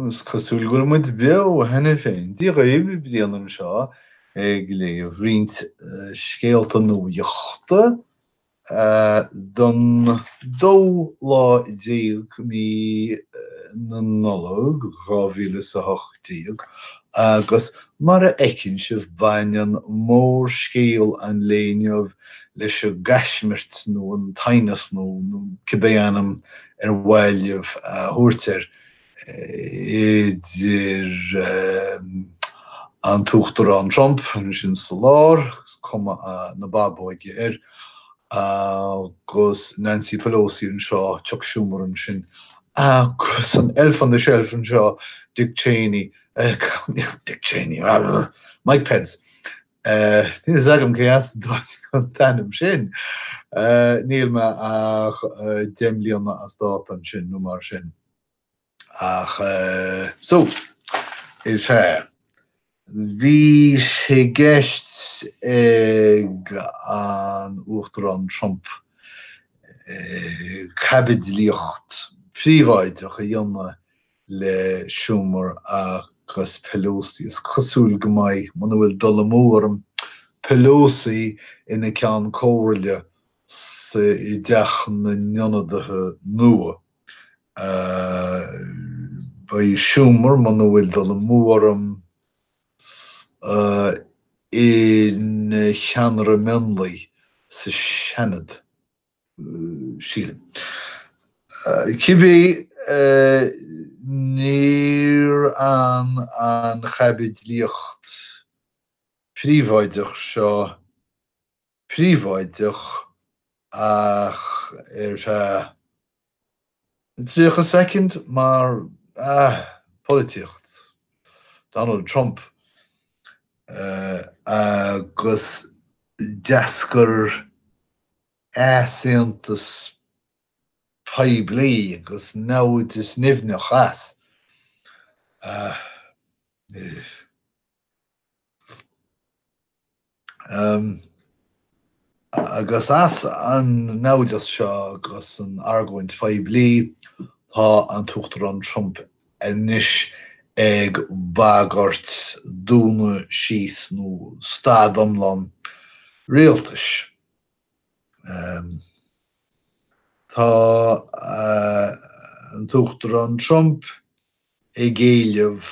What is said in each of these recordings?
Is cosúil go bhfuil muid beo cheana féin. Dia dhaoibh, Diarmaid anseo ag léamh roinnt scéalta nuachta don dóú lá déag mí na Nollag 2018 agus mar a fheiceann sibh baineann mórscéal an lae inniu leis an gcaismirt nó an t-aighneas nó cibé ainm ar mhaith libh a thabhairt air, idir an tUachtarán Trump, ansin sa lár, cuma na bábóige air, agus Nancy Pelosi anseo, Chuck Schumer ansin, agus an elf on the shelf anseo, Dick Cheney, Dick Cheney, Mike Pence, Níl fhios agam cé as a dtáinig an t-ainm sin. Níl mé ach deich mbliana as dáta ansin nó mar sin. Ach so, sea, bhí sé i gceist ag an Uachtarán Trump caibidlíocht phríobháideach a dhéanamh le Schumer agus Pelosi. Is cosúil go mbeidh, muna bhfuil dul amú orm, Pelosi ina ceann comhairle sa i dTeach na nIonadaithe nua. Beidh Schumer, muna bhfuil dul amú orm, ina cheannaire mionlaigh sa Seanad. sílim. Cibé níor fhan an chaibidlíocht phríobháideach seo príobháideach ach ar feadh. 30 soicind mar ah, polaitíocht. Donald Trump agus d'eascair easaontas poiblí agus naimhdeas nimhneach as. ah. Agus as an naimhdeas seo agus an argóint phoiblí, tá an tUachtarán Trump anois ag bagairt dúnadh síos nó stad iomlán rialtais. Tá an tUachtarán Trump ag éileamh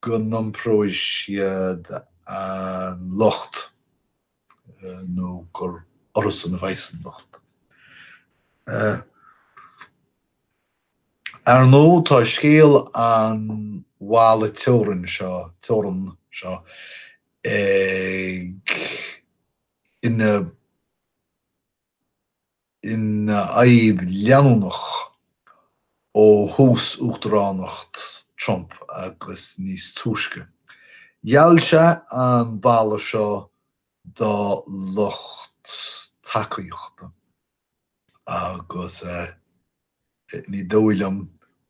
go n-iompróidh siad an locht nó gur orthusan a bheas an locht. Ar ndóigh, tá scéal an bhalla teorann seo, teorann seo ag, ina. ina fhadhb leanúnach ó thús uachtaránacht Trump agus níos túisce, gheall sé an balla seo dá lucht tacaíochta agus. Ní dóigh liom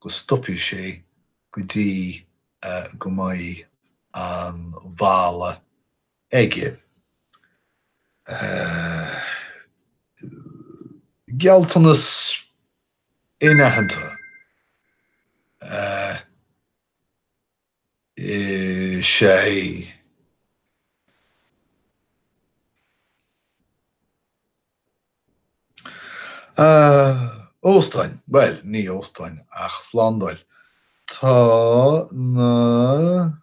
go stopfaidh sé go dtí go mbeidh an balla aige. Gealltanas an-aitheanta. Is é Ah, óstáin, bhuel, ní óstáin ach slándáil. Tá na.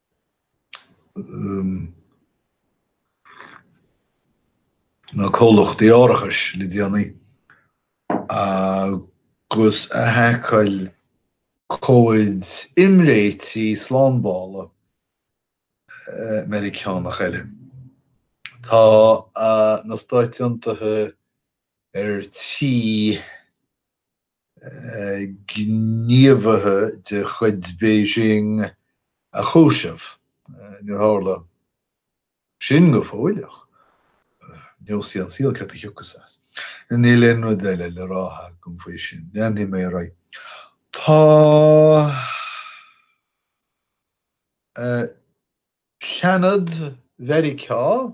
na comhlachtaí árachais le déanaí agus a haiceáil comhaid imréitigh slándála Meiriceánach eile. Tá na Stáit Aontaithe ar tí. gníomhaithe de chuid Beijing a chúiseamh. Níor tharla sin go fóill ach neosfaidh an saol céard a thiocfas as. Níl aon rud eile le rá agam faoi sin. Leanfaidh mé ar aghaidh. Tá Seanad Mheiriceá.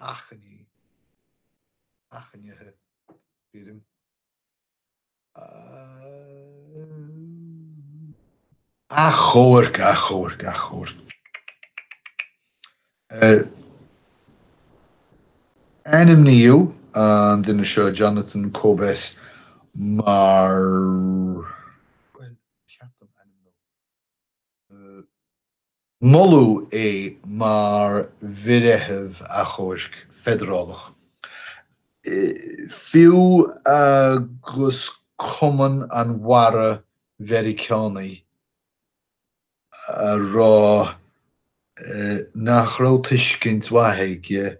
achainí, achainithe, achomhairc, achomhairc, achomhairc, achoimre. Ainmníodh an duine seo, Jonathan Kobes, mar. Bhuel, ba cheart dom ainmniú moladh é mar bhreitheamh achomhairc feidearálach, fiú agus Cumann an Bharra Mheiriceánaigh ag rá nach raibh tuiscint mhaith aige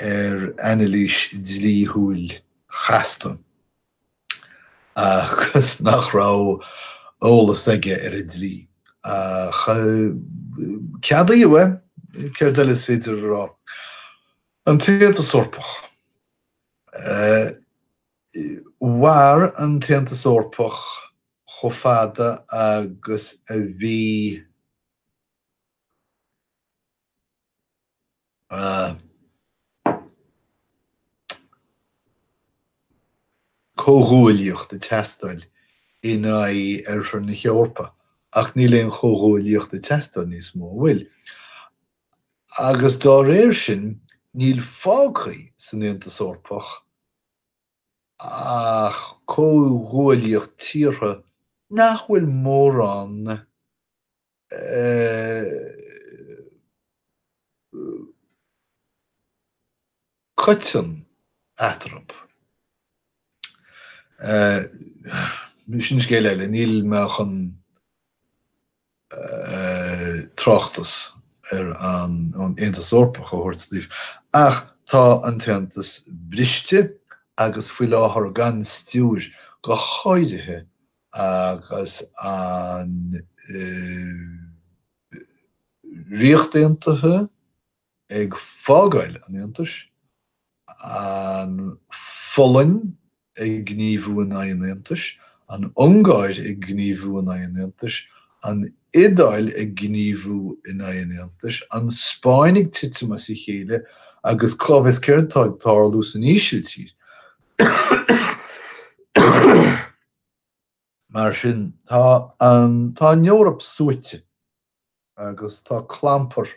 ar anailís dlíthiúil chasta agus nach raibh eolas aige ar an dlí. Ach ceadaíodh é, céard eile is féidir a rá? An tAontas Eorpach. Mhair an tAontas Eorpach chomh fada agus a bhí. comhghuaillíocht ag teastáil in aghaidh oirthear na hEorpa, ach níl aon chomhghuaillíocht ag teastáil níos mó, an bhfuil? agus dá réir sin, níl fágtha san Aontas Eorpach ach comhghuaillíocht tíortha nach bhfuil mórán. coiteann eatarthu. Sin scéal eile, níl mé chun tráchtas ar an Aontas Eorpach a thabhairt daoibh, ach tá an tAontas briste agus faoi láthair gan stiúir, go háirithe agus an Ríocht Aontaithe ag fágáil an Aontais, an Pholainn ag gníomhú in aghaidh an Aontais, an Ungáir ag gníomhú in aghaidh an Aontais, an Iodáil ag gníomhú in aghaidh an Aontais, an Spáinn ag titim as a chéile, agus cá bhfios céard atá ag tarlú san Ísiltír. Mar sin, tá tá an Eoraip suaite agus tá clampar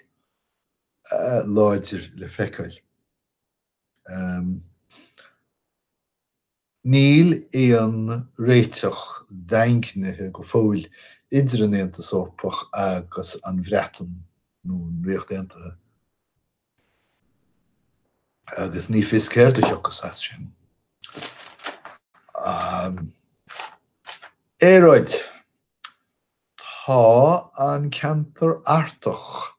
láidir le feiceáil. Níl aon réiteach daingnithe go fóill idir an Aontas Eorpach agus an Bhreatain nó an Ríocht Aontaithe. agus ní fios céard a thiocfas as sin. An aeráid Tá an ceantar Artach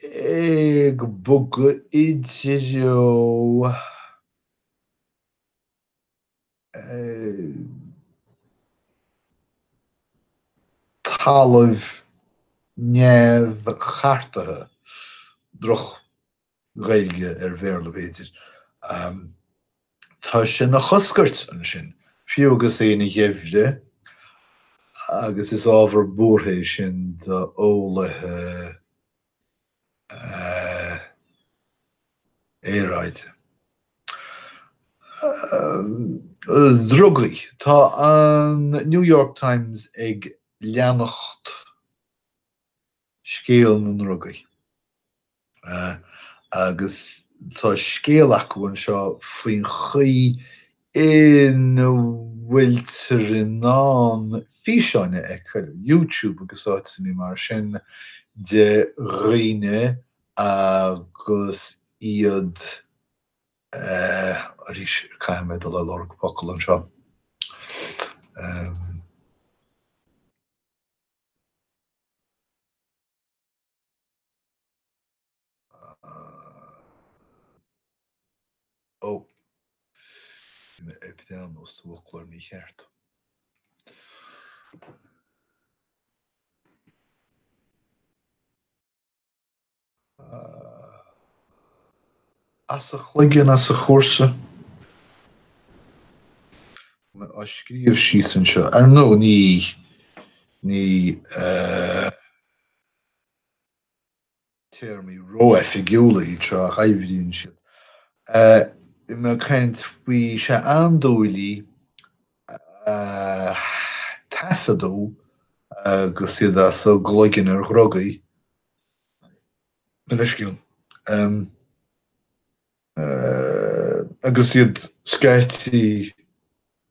ag bogadh i dtreo. talamh neamhchartaithe, droch-Ghaeilge ar Bhéarla b'fhéidir, tá sé ina choscairt ansin, fiú agus é ina gheimhreadh, agus is ábhar buartha é sin d'eolaithe. aeráide. Drugaí Tá an New York Times ag leanacht scéal na ndrugaí agus tá scéal acu anseo faoin chaoi ina bhfuiltear in ann físeáin a fheiceáil ar YouTube agus áiteanna mar sin de dhaoine agus iad eh arís caithfidh mé dul ar lorg focal anseo em. As a gcloigeann, as a chúrsa. Á scríobh síos anseo. Ar ndóigh, ní, ní, eh, téarmaí ró-oifigiúla iad seo ach oibríonn siad. Bhí mé ag caint faoi, andúiligh a taifeadadh agus iad as a gcloigeann ar dhrugaí, anois, ciall. agus iad scaití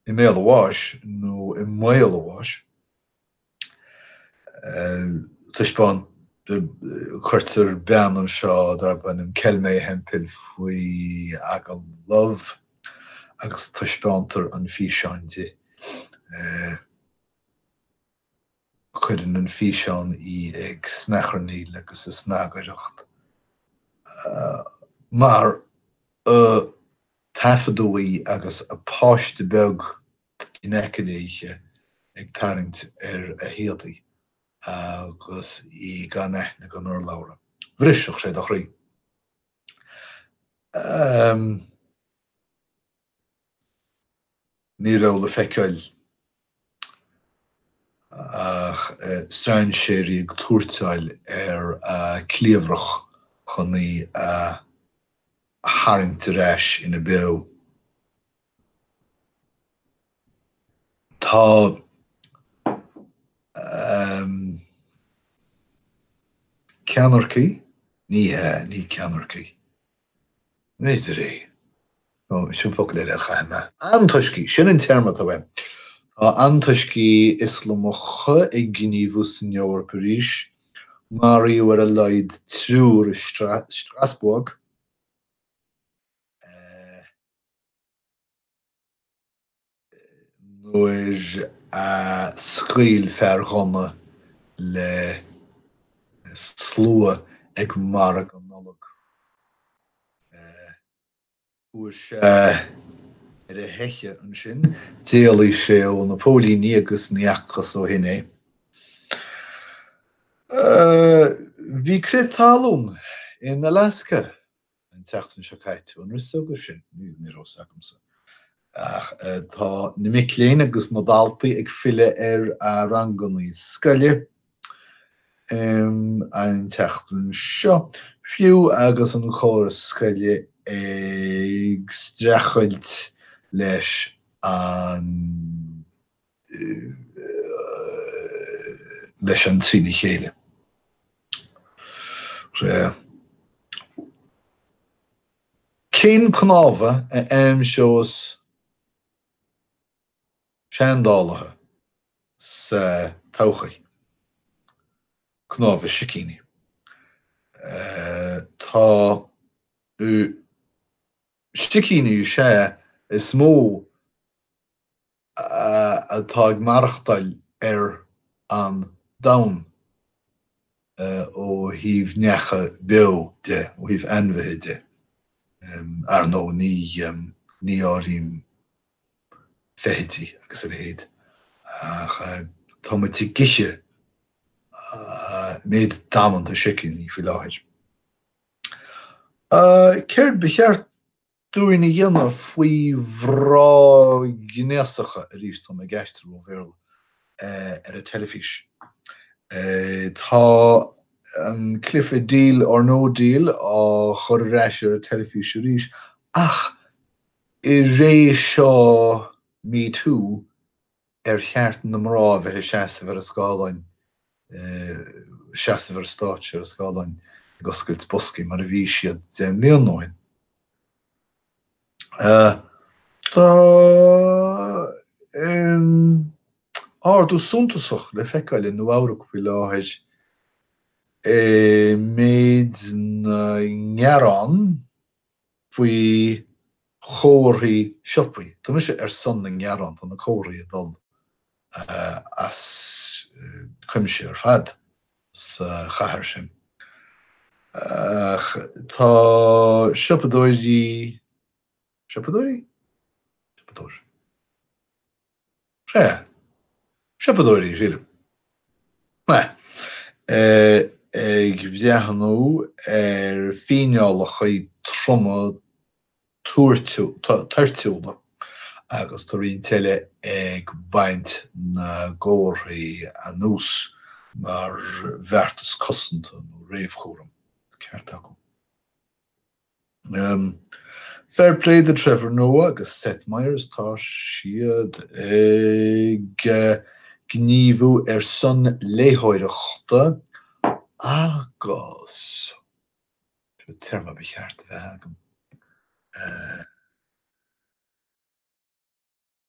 i mbéal an bháis nó i mbaol an bháis. Taispeán. Cuirtear bean anseo darb ainm Kelmae Hemphill faoi agallamh agus taispeántar an físeán di. Cuireann an físeán í ag smeacharnaíl agus ag snagaireacht mar a taifeadadh í agus a páiste beag in aice léi ag tarraingt ar a héadaí agus í gan aithne gan urlabhra. Bhrisfeadh sé do chroí. Ní raibh le feiceáil ach strainséirí ag tuairteáil ar a cliabhrach chun í a tharraingt ar ais ina beo. Tá ceannaircigh, ní hea, ní ceannaircigh. Nidirí. Nó sin focal eile a chaithfidh mé. Antoiscigh! Sin an téarma atá uaim. Tá antoiscigh Ioslamacha ag gníomhú san Eoraip arís. Maraíodh ar a laghad triúr i Strasbourg. nuair a scaoil fear gunna le slua ag margadh Nollag. Chuaigh sé ar a theicheadh ansin, d'éalaigh sé ó na póilíní agus ní fhacthas ó shin é. Bhí crith talún in Alaska. an tseachtain seo caite. An raibh 's agaibh sin? Ní raibh 's agamsa. Ach tá na mic léinn agus na daltaí ag filleadh ar a ranganna scoile an tseachtain seo, fiú agus an córas scoile ag streachailt leis an. leis an trína chéile. Cén cnámha a aimseos seandálaithe sa todhchaí? Cnámha sicíní. Tá, sicíní is ea is mó atá ag maireachtáil ar an Domhan ó thaobh neacha beo de, ó thaobh ainmhithe de, ar ndóigh, ní áirím feithidí agus a leithéid, ach tá muid ag ithe méid damanta sicíní faoi láthair. Céard ba cheart dúinn a dhéanamh faoi bhrá gnéasachais. Tá an cheist mhorálta ar an teilifís. Tá an cluiche Deal or No Deal á chur ar ais ar an teilifís arís ach i ré seo Me Too Ar cheart na mná a bheith ag seasamh ar an scáileán, seasamh ar an stáitse, ar an scáileán ag oscailt boscaí mar a bhí siad deich mbliana ó shin? Tá ardú suntasach le feiceáil i Nua-Eabhrac faoi láthair i méid na ngearán. faoi chomharthaí siopaí. Tá mise ar son na ngearán, tá na comharthaí ag dul as cuimse ar fad sa chathair sin. Ach tá siopadóirí, siopadóirí? siopadóir. Sea. Siopadóirí, sílim. Maith. Ag breathnú ar fhíneálacha troma toirtiúla agus tá roinnt eile ag baint na gcomharthaí anuas mar bheartas cosanta nó réamhchúraim. Ceart acu. Fair play do Trevor Noah agus Seth Meyers, tá siad ag gníomhú ar son léitheoireachta agus, cén téarma ba cheart a bheith agam, eh.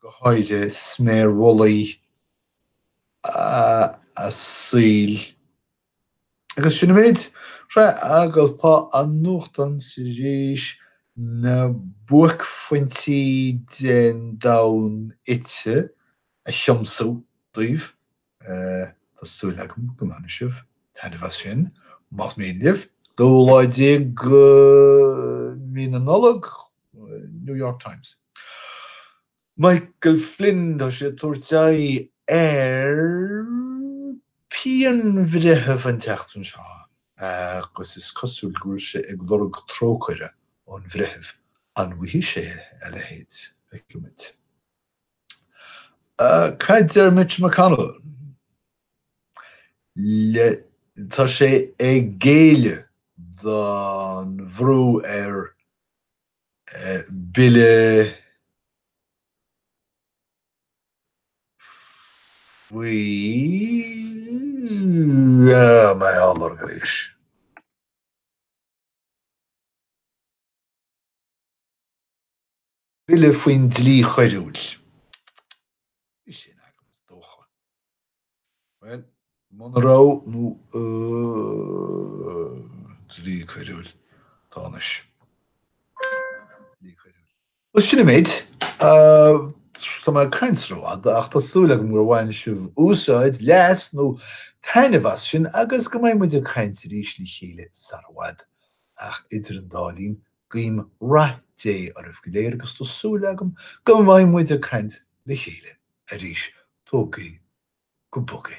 go háirithe sméar mhullaigh a saoil. Agus sin an méid. Sea, agus tá an nuachtán tar éis na buaicphointí den domhan ite a thiomsú daoibh. Tá súil agam go mbainfidh sibh taitneamh as sin. Más mian libh, 12 lá mí na Nollag, New York Times. Michael Flynn, tá sé ag tabhairt aghaidh ar phianbhreith an tseachtain seo agus is cosúil go bhfuil sé ag lorg trócaire ón bhreitheamh. An bhfaighidh sé a leithéid? Cad a deir Mitch McConnell? Tá sé ag géilleadh don bhrú ar bhille faoi. Bille faoin dlí choiriúil. Bhí sin agam is dócha. Bhuel, muna raibh nó dlí coiriúil. Tá anois. Dlí coiriúil. Bhuel, sin an méid. Tá mé ag caint rófhada ach tá súil agam gur bhain sibh úsáid, leas nó taitneamh as sin agus go mbeidh muid ag caint arís le chéile sara bhfad. Ach idir an dá linn, Guím rath Dé oraibh go léir agus tá súil agam go mbeidh muid ag caint le chéile arís. Tógaigí go bog é.